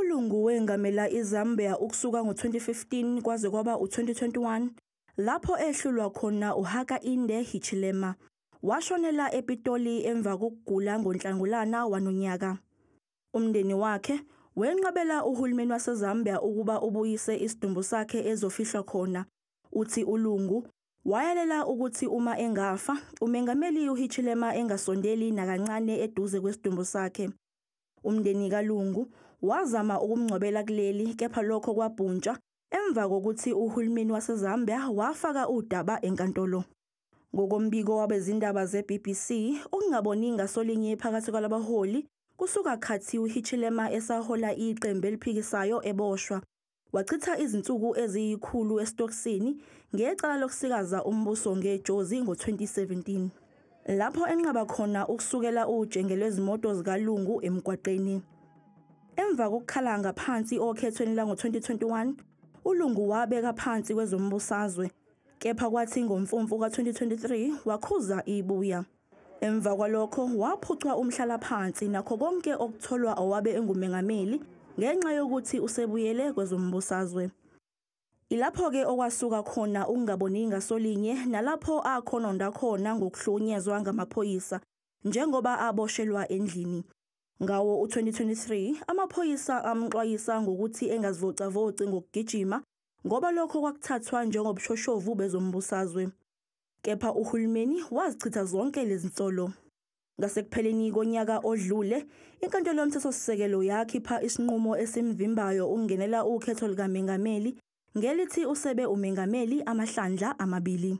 ULungu wengamela iZambia ukusuka ngo-2015 kwaze kwaba u-2021 lapho ehlulwa khona uHakainde Hichilema. Washonela ePitoli emva kokugula ngoNhlangulana wanonyaka. Umndeni wakhe wenqabela uhulumeni waseZambia ukuba ubuyise isidumbu sakhe ezofihlwa khona. Uthi uLungu wayalela ukuthi uma engafa, uMengameli uHichilema engasondeli nakancane eduze kwesidumbu sakhe. Umndeni kaLungu wazama ukumngcwabela kuleli kepha lokho kwabhuntshwa emva kokuthi uhulumeni waseZambia wafaka udaba enkantolo. Ngokombiko wabezindaba ze-BBC, ukungaboni ngasolinye phakathi kwalabaholi kusuka khathi uHichilema esahola iqembu eliphikisayo eboshwa. Wachitha izinsuku eziyikhulu esitokisini ngecala lokusikaza umbuso ngejozi ngo-2017 lapho enqaba khona ukusukela ujenge lwezimoto zikalungu emgwaqeni. Emva kokukhala ngaphansi okhethweni lango-2021, ulungu wabeka phansi kwezombusazwe, kepha kwathi ngomfumfu ka-2023 wakhuza ibuya. Emva kwalokho waphucwa umhlalaphansi nakho konke okutholwa owabe engumengameli ngenxa yokuthi usebuyele kwezombusazwe. Ilapho-ke okwasuka khona ukungaboni ngasolinye nalapho akhononda khona ngokuhlukunyezwa ngamaphoyisa njengoba aboshelwa endlini. Ngawo u-2023 amaphoyisa amxwayisa ngokuthi engazivocavoci ngokugijima ngoba lokho kwakuthathwa njengobushoshovu bezombusazwe. kepha uhulumeni wazichitha zonke lezi nsolo. Ngasekupheleni konyaka odlule, iNkantolo yoMthethosisekelo yakhipha isinqumo esimvimbayo ukungenela ukhetho likaMengameli ngelithi usebe uMengameli amahlandla amabili.